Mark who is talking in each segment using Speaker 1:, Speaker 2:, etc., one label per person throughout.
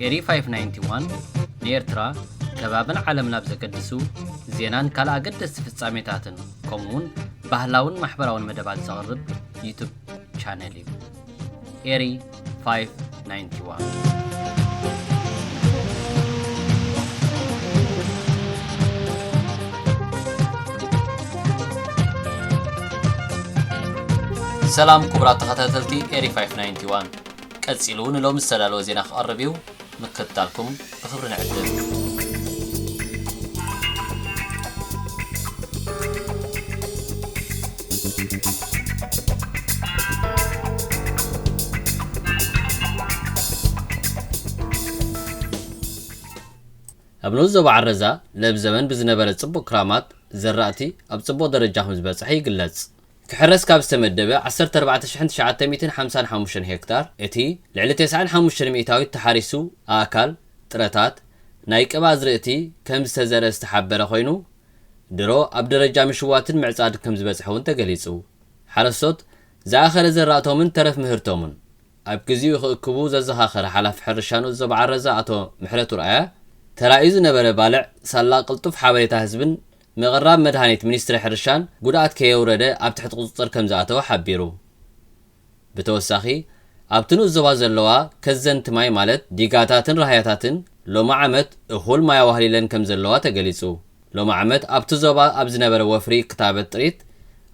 Speaker 1: ኤሪ 591፣ ንኤርትራ፣ ከባብን ዓለምን ኣብ ዘገድሱ ዜናን ካልእ ኣገደስቲ ፍጻሜታትን ከምኡ'ውን ባህላውን ማሕበራውን መደባት ዘቕርብ ዩቱብ ቻነል እዩ። ኤሪ 591 ቀጺሉ ንሎሚ ዝተዳለወ ዜና ክቐርብ እዩ። ምክትታልኩም ብኽብሪ ንዕድም። ኣብ ንኡስ ዞባ ዓረዛ ለብ ዘበን ብዝነበረ ጽቡቕ ክራማት፣ ዘራእቲ ኣብ ጽቡቕ ደረጃ ከምዝበጽሐ ይግለጽ። ክሕረስ ካብ ዝተመደበ ዓሰርተ ኣርባዕተ ሽሕን ትሽዓተ ሚእትን ሓምሳን ሓሙሽተን ሄክታር እቲ ልዕሊ ተስዓን ሓሙሽተን ሚእታዊት ተሓሪሱ ኣእካል፣ ጥረታት፣ ናይ ቅብ ኣዝርእቲ ከም ዝተዘርእ ዝተሓበረ ኮይኑ ድሮ ኣብ ደረጃ ምሽዋትን ምዕፃድ ከም ዝበፅሐ እውን ተገሊፁ። ሓረስቶት ዝኣኸለ ዘራእቶምን ተረፍ ምህርቶምን ኣብ ግዚኡ ክእክቡ ዘዘኻኸረ ሓላፊ ሕርሻ ንኡስ ዞባ ዓረዛ ኣቶ ምሕረቱ ርኣያ ተራእዩ ዝነበረ ባልዕ ሳላ ቅልጡፍ ሓበሬታ ህዝብን ምቕራብ መድሃኒት ሚኒስትሪ ሕርሻን ጉድኣት ከየውረደ ኣብ ትሕቲ ቁፅፅር ከምዝኣተወ ሓቢሩ። ብተወሳኺ ኣብቲ ንኡስ ዞባ ዘለዋ ከዘንቲ ማይ ማለት ዲጋታትን ራህያታትን ሎሚ ዓመት እኹል ማይ ኣዋህሊለን ከምዘለዋ ተገሊፁ። ሎሚ ዓመት ኣብቲ ዞባ ኣብ ዝነበረ ወፍሪ ክታበት ጥሪት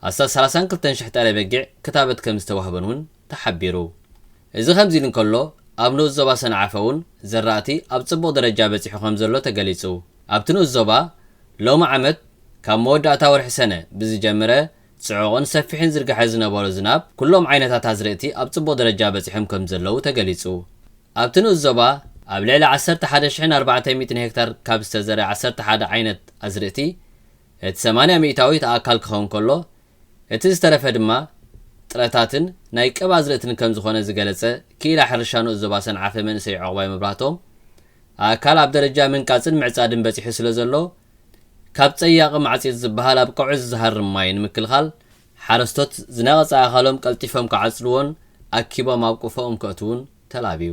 Speaker 1: ኣስታት ሰላሳን ክልተን ሽሕ ጤለ በጊዕ ክታበት ከምዝተዋህበን እውን ተሓቢሩ። እዚ ከምዚ ኢሉ እንከሎ፣ ኣብ ንኡስ ዞባ ሰንዓፈ'ውን ዘራእቲ ኣብ ጽቡቕ ደረጃ በጺሑ ከምዘሎ ተገሊጹ። ኣብቲ ንኡስ ዞባ፣ ሎሚ ዓመት ካብ መወዳእታ ወርሒ ሰነ ብዝጀምረ ጽዑቕን ሰፊሕን ዝርግሐ ዝነበሮ ዝናብ፣ ኩሎም ዓይነታት ኣዝርእቲ ኣብ ጽቡቕ ደረጃ በጺሖም ከምዘለዉ ተገሊጹ። ኣብቲ ንኡስ ዞባ፣ ኣብ ልዕሊ ዓሰርተ ሓደ ሽሕን ኣርባዕተ ሚእትን ሄክታር ካብ ዝተዘርኣ ዓሰርተ ሓደ ዓይነት ኣዝርእቲ፣ እቲ ሰማንያ ሚእታዊ እቲ ኣካል ክኸውን ከሎ፣ እቲ ዝተረፈ ድማ ጥረታትን ናይ ቀብ ኣዝርእትን ከምዝኾነ ዝገለፀ ክኢላ ሕርሻ ንኡስ ዞባ ሰንዓፈ መንእሰይ ዑቕባይ መብራህቶም፣ ኣእካል ኣብ ደረጃ ምንቃፅን ምዕፃድን በፂሑ ስለዘሎ ካብ ፀያቒ ማዕፂፅ ዝበሃል ኣብ ቀውዒ ዝዝሃርም ማይ ንምክልኻል ሓረስቶት ዝነቐፀ ኣእኻሎም ቀልጢፎም ክዓፅድዎን ኣኪቦም ኣብ ቆፎኦም ከእትዉን ተላብዩ።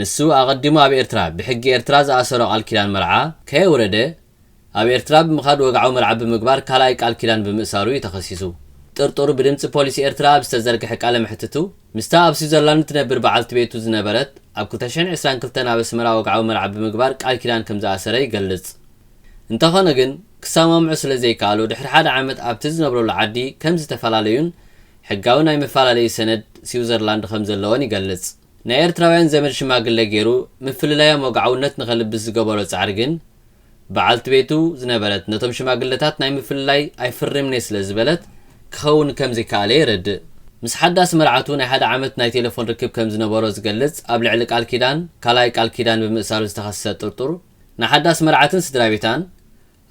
Speaker 1: ንሱ ኣቐዲሙ ኣብ ኤርትራ ብሕጊ ኤርትራ ዝኣሰሮ ቃል ኪዳን መርዓ ከየውረደ ኣብ ኤርትራ ብምኻድ ወግዓዊ መርዓ ብምግባር ካልኣይ ቃል ኪዳን ብምእሳሩ እዩ ተኸሲሱ። ጥርጡር ብድምጺ ፖሊስ ኤርትራ ኣብ ዝተዘርግሐ ቃለ መሕትቱ ምስታ ኣብ ስዊዘርላንድ ትነብር በዓልቲ ቤቱ ዝነበረት ኣብ ክልተ ሽሕን ዕስራን ክልተን ኣብ ኣስመራ ወግዓዊ መርዓ ብምግባር ቃል ኪዳን ከም ዝኣሰረ ይገልጽ። እንተኾነ ግን ክሰማምዑ ስለ ዘይከኣሉ ድሕሪ ሓደ ዓመት ኣብቲ ዝነብረሉ ዓዲ ከም ዝተፈላለዩን ሕጋዊ ናይ መፈላለዪ ሰነድ ስዊዘርላንድ ከም ዘለዎን ይገልጽ። ናይ ኤርትራውያን ዘመድ ሽማግለ ጌሩ ምፍልላዮም ወግዓውነት ንኸልብስ ዝገበሮ ጻዕሪ ግን፣ ብዓልቲ ቤቱ ዝነበረት ነቶም ሽማግለታት ናይ ምፍልላይ ኣይፍርምን'የ ስለ ዝበለት ክኸውን ከም ዘይከኣለ የረድእ። ምስ ሓዳስ መርዓቱ ናይ ሓደ ዓመት ናይ ቴለፎን ርክብ ከም ዝነበሮ ዝገልጽ ኣብ ልዕሊ ቃል ኪዳን ካልኣይ ቃል ኪዳን ብምእሳሩ ዝተኸስሰ ጥርጡር፣ ንሓዳስ መርዓትን ስድራቤታን፣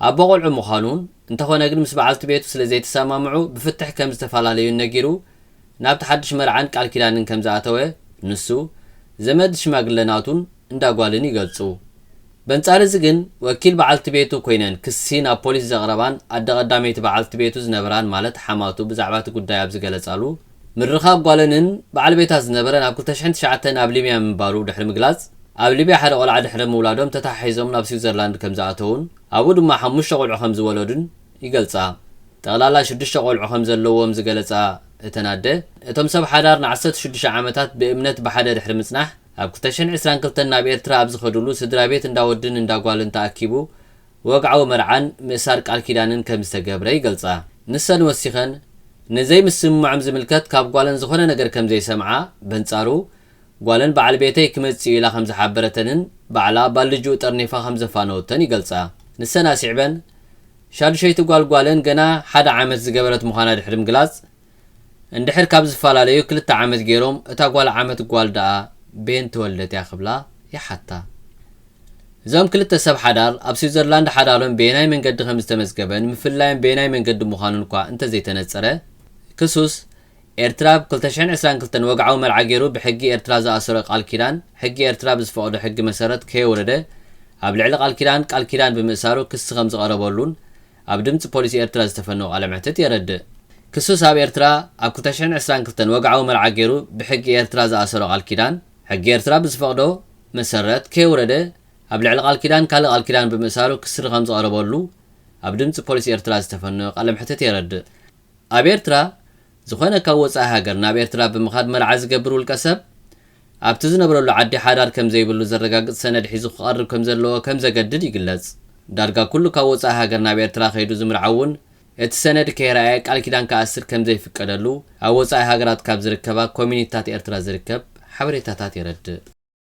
Speaker 1: ኣቦ ቆልዑ ምዃኑን እንተኾነ ግን ምስ በዓልቲ ቤቱ ስለ ዘይተሰማምዑ ብፍትሕ ከም ዝተፋላለዩን ነጊሩ ናብቲ ሓድሽ መርዓን ቃል ኪዳንን ከም ዝኣተወ ንሱ፣ ዘመድ ሽማግለ ናቱን እንዳ ጓልን ይገልጹ። በንጻር እዚ ግን ወኪል በዓልቲ ቤቱ ኮይነን ክሲ ናብ ፖሊስ ዘቕረባን ኣደ ቀዳመይቲ በዓልቲ ቤቱ ዝነበራን ማለት ሓማቱ ብዛዕባ እቲ ጉዳይ ኣብ ዝገለጻሉ፣ ምርኻብ ጓለንን በዓል ቤታ ዝነበረን ኣብ ክልተ ሽሕን ትሽዓተን ኣብ ሊብያ ምንባሩ ድሕሪ ምግላጽ፣ ኣብ ሊብያ ሓደ ቆልዓ ድሕሪ ምውላዶም ተተሓሒዞም ናብ ስዊዘርላንድ ከምዝኣተዉን ኣብኡ ድማ ሓሙሽተ ቆልዑ ከምዝወለዱን ይገልጻ። ጠቕላላ ሽዱሽተ ቆልዑ ከምዘለዎም ዝገለጻ እተን ኣደ፣ እቶም ሰብ ሓዳር ንዓሰርተ ሽዱሽተ ዓመታት ብእምነት ብሓደ ድሕሪ ምጽናሕ ኣብ ክልተ ሽሕን ዕስራን ክልተን ናብ ኤርትራ ኣብ ዝኸድሉ ስድራቤት እንዳ ወድን እንዳ ጓልን ተኣኪቡ ወግዓዊ መርዓን ምእሳር ቃል ኪዳንን ከም ዝተገብረ ይገልጻ። ንሰን ወሲኸን፣ ንዘይምስምማዖም ዝምልከት ካብ ጓለን ዝኾነ ነገር ከም ዘይሰምዓ፣ በንጻሩ፣ ጓለን በዓል ቤተይ ክመጽእ እዩ ኢላ ከም ዝሓበረተንን ባዕላ ባልጅኡ ጠርኒፋ ከም ዘፋነወቶን ይገልጻ። ንሰን ኣስዒበን፣ ሻዱሸይቲ ጓል ጓለን ገና ሓደ ዓመት ዝገበረት ምዃና ድሕሪ ምግላጽ፣ እንድሕር ካብ ዝፈላለዩ ክልተ ዓመት ገይሮም እታ ጓል ዓመት ጓል ደኣ ቤን ተወልደት እያ ክብላ ይሓታ። እዞም ክልተ ሰብ ሓዳር ኣብ ስዊዘርላንድ ሓዳሮም በየናይ መንገዲ ከም ዝተመዝገበን ምፍልላዮም በየናይ መንገዲ ምዃኑን'ኳ እንተ ዘይተነጸረ ክሱስ ኤርትራ ብ ክልተ ሽሕን ዕስራን ክልተን ወግዓዊ መርዓ ገይሩ ብሕጊ ኤርትራ ዝኣሰሮ ቃል ኪዳን ሕጊ ኤርትራ ብዝፈቕዶ ሕጊ መሰረት ከየውረደ ኣብ ልዕሊ ቃል ኪዳን ቃል ኪዳን ብምእሳሩ ክሲ ከም ዝቐረበሉን ኣብ ድምጺ ፖሊስ ኤርትራ ዝተፈነወ ቃለ መሕትት የረድእ። ክሱስ ኣብ ኤርትራ ኣብ ክልተ ሽሕን ዕስራን ክልተን ወግዓዊ መርዓ ጌሩ ብሕጊ ኤርትራ ዝኣሰሮ ቃል ኪዳን፣ ሕጊ ኤርትራ ብዝፈቕዶ መሰረት ከየውረደ ኣብ ልዕሊ ቃል ኪዳን ካልእ ቃል ኪዳን ብምእሳሩ ክስሪ ከምዝቐረበሉ ኣብ ድምጺ ፖሊስ ኤርትራ ዝተፈነወ ቃለ መሕትት የረድእ። ኣብ ኤርትራ ዝኾነ ካብ ወጻኢ ሃገር ናብ ኤርትራ ብምኻድ መርዓ ዝገብር ውልቀሰብ፣ ኣብቲ ዝነብረሉ ዓዲ ሓዳር ከም ዘይብሉ ዘረጋግጽ ሰነድ ሒዙ ክቐርብ ከም ዘለዎ ከም ዘገድድ ይግለጽ። ዳርጋ ኩሉ ካብ ወጻኢ ሃገር ናብ ኤርትራ ከይዱ ዝምርዓውን እቲ ሰነድ ከይረኣየ ቃል ኪዳን ክኣስር ከም ዘይፍቀደሉ ኣብ ወጻኢ ሃገራት ካብ ዝርከባ ኮሚኒቲታት ኤርትራ ዝርከብ ሓበሬታታት የረድእ።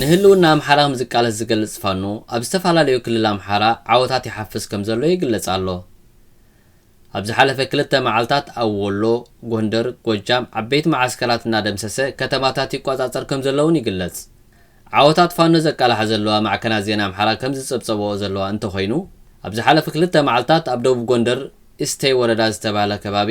Speaker 1: ንህልውና ኣምሓራ ከምዝቃለስ ዝገልጽ ፋኖ ኣብ ዝተፈላለዩ ክልል ኣምሓራ ዓወታት ይሓፍስ ከምዘሎ ይግለጽ ኣሎ። ኣብ ዝሓለፈ ክልተ መዓልታት ኣብ ወሎ፣ ጎንደር፣ ጎጃም ዓበይቲ መዓስከራት እናደምሰሰ ከተማታት ይቆጻጸር ከምዘሎ'ውን ይግለጽ። ዓወታት ፋኖ ዘቃልሓ ዘለዋ ማዕከናት ዜና ኣምሓራ ከምዝጸብጸበኦ ዘለዋ እንተኾይኑ፣ ኣብ ዝሓለፉ ክልተ መዓልታት ኣብ ደቡብ ጎንደር ኢስተይ ወረዳ ዝተባህለ ከባቢ፣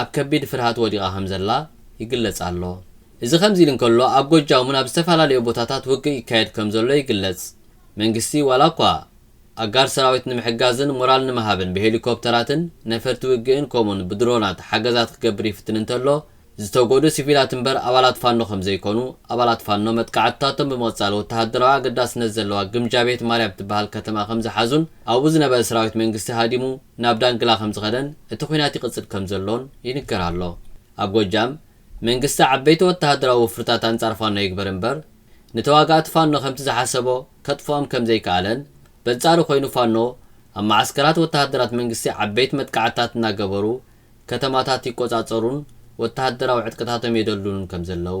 Speaker 1: ኣብ ከቢድ ፍርሃት ወዲቓ ከምዘላ ይግለጽ ኣሎ። እዚ ከምዚ ኢሉ እንከሎ ኣብ ጎጃም'ውን ኣብ ዝተፈላለየ ቦታታት ውግእ ይካየድ ከምዘሎ ይግለጽ። መንግስቲ ዋላኳ ኣጋር ሰራዊት ንምሕጋዝን ሞራል ንምሃብን ብሄሊኮፕተራትን ነፈርቲ ውግእን ከምኡ'ውን ብድሮናት ሓገዛት ክገብር ይፍትን እንተሎ ዝተጎድኡ ሲቪላት እምበር ኣባላት ፋኖ ከምዘይኮኑ ኣባላት ፋኖ መጥቃዕትታቶም ብምቕጻል ወተሃደራዊ ኣገዳስነት ዘለዋ ግምጃቤት ማርያም ትበሃል ከተማ ከምዝሓዙን ኣብኡ ዝነበረ ሰራዊት መንግስቲ ሃዲሙ ናብ ዳንግላ ከምዝኸደን እቲ ኹናት ይቕፅል ከምዘሎን ይንገር ኣሎ። ኣብ ጎጃም፣ መንግስቲ ዓበይቲ ወተሃደራዊ ወፍርታት ኣንፃር ፋኖ ይግበር እምበር ንተዋጋእቲ ፋኖ ከምቲ ዝሓሰቦ ከጥፍኦም ከምዘይከኣለን በንፃሩ ኮይኑ ፋኖ ኣብ መዓስከራት ወተሃደራት መንግስቲ ዓበይቲ መጥቃዕትታት እናገበሩ ከተማታት ይቆፃፀሩን ወተሃደራዊ ዕጥቅታቶም የደልድሉን ከምዘለው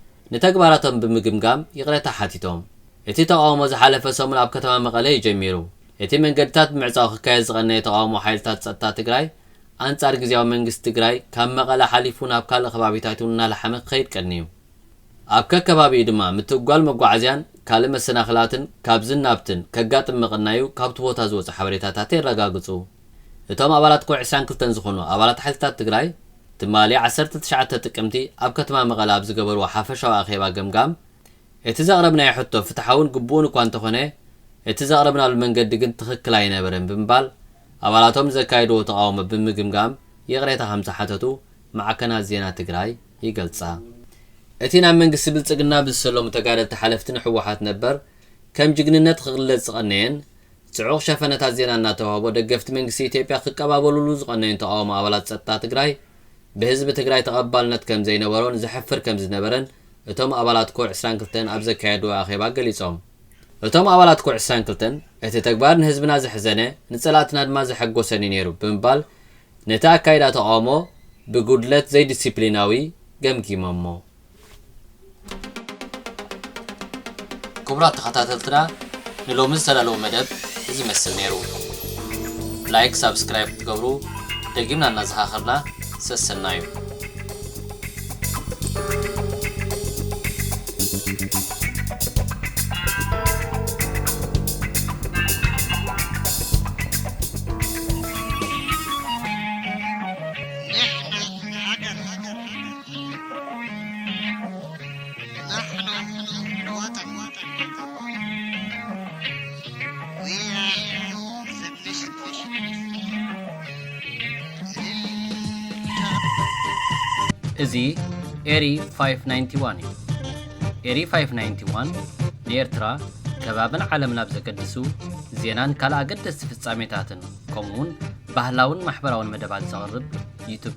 Speaker 1: ንተግባራቶም ብምግምጋም ይቕሬታ ሓቲቶም። እቲ ተቓውሞ ዝሓለፈ ሰሙን ኣብ ከተማ መቐለ እዩ ጀሚሩ። እቲ መንገድታት ብምዕፃው ክካየድ ዝቐነየ ተቓውሞ ሓይልታት ፀጥታ ትግራይ ኣንፃር ግዝያዊ መንግስቲ ትግራይ ካብ መቐለ ሓሊፉ ናብ ካልእ ከባቢታት እውን እናላሓመ ክኸይድ ቀንዩ። ኣብ ከከባቢኡ ድማ ምትእጓል መጓዓዝያን ካልእ መሰናኽላትን ካብዝን ናብትን ከጋጥም ምቕናዩ ካብቲ ቦታ ዝወፁ ሓበሬታታት የረጋግፁ። እቶም ኣባላት ኮር ዕስራን ክልተን ዝኾኑ ኣባላት ሓይልታት ትግራይ ትማሊ ዓሰርተ ትሽዓተ ጥቅምቲ ኣብ ከተማ መቐለ ኣብ ዝገበርዎ ሓፈሻዊ ኣኼባ ገምጋም እቲ ዘቕረብናዮ ሕቶ ፍትሓውን ግቡእን እኳ እንተኾነ እቲ ዘቕረብናሉ መንገዲ ግን ትኽክል ኣይነበረን ብምባል ኣባላቶም ንዘካየድዎ ተቓውሞ ብምግምጋም ይቕሬታ ከምዝሓተቱ ማዕከናት ዜና ትግራይ ይገልጻ። እቲ ናብ መንግስቲ ብልጽግና ብዝሰለሙ ተጋደልቲ ሓለፍቲ ንሕወሓት ነበር ከም ጅግንነት ኽግለጽ ዝቐነየን ጽዑቕ ሸፈነታት ዜና እናተዋህቦ ደገፍቲ መንግስቲ ኢትዮጵያ ክቀባበሉሉ ዝቐነዩን ተቓውሞ ኣባላት ጸጥታ ትግራይ ብህዝቢ ትግራይ ተቐባልነት ከምዘይነበሮን ዘሕፍር ከምዝነበረን እቶም ኣባላት ኮር ዕስራን ክልተን ኣብ ዘካየድዎ ኣኼባ ገሊጾም። እቶም ኣባላት ኮር ዕስራን ክልተን እቲ ተግባር ንህዝብና ዘሕዘነ ንጸላእትና ድማ ዘሐጎሰን እዩ ነይሩ ብምባል ነቲ ኣካይዳ ተቓውሞ ብጉድለት ዘይዲሲፕሊናዊ ገምጊሞሞ። ክቡራት ተኸታተልትና ንሎሚ ዝተዳለወ መደብ እዚ መስል ነይሩ ላይክ ሳብስክራይብ ክትገብሩ ደጊምና እናዘኻኸርና ሰሰናዩ እዚ ኤሪ 591 እዩ። ኤሪ 591 ንኤርትራ ከባብን ዓለምን ኣብ ዘገድሱ ዜናን ካልእ ኣገደስቲ ፍጻሜታትን ከምኡውን ባህላውን ማሕበራውን መደባት ዘቕርብ ዩቱብ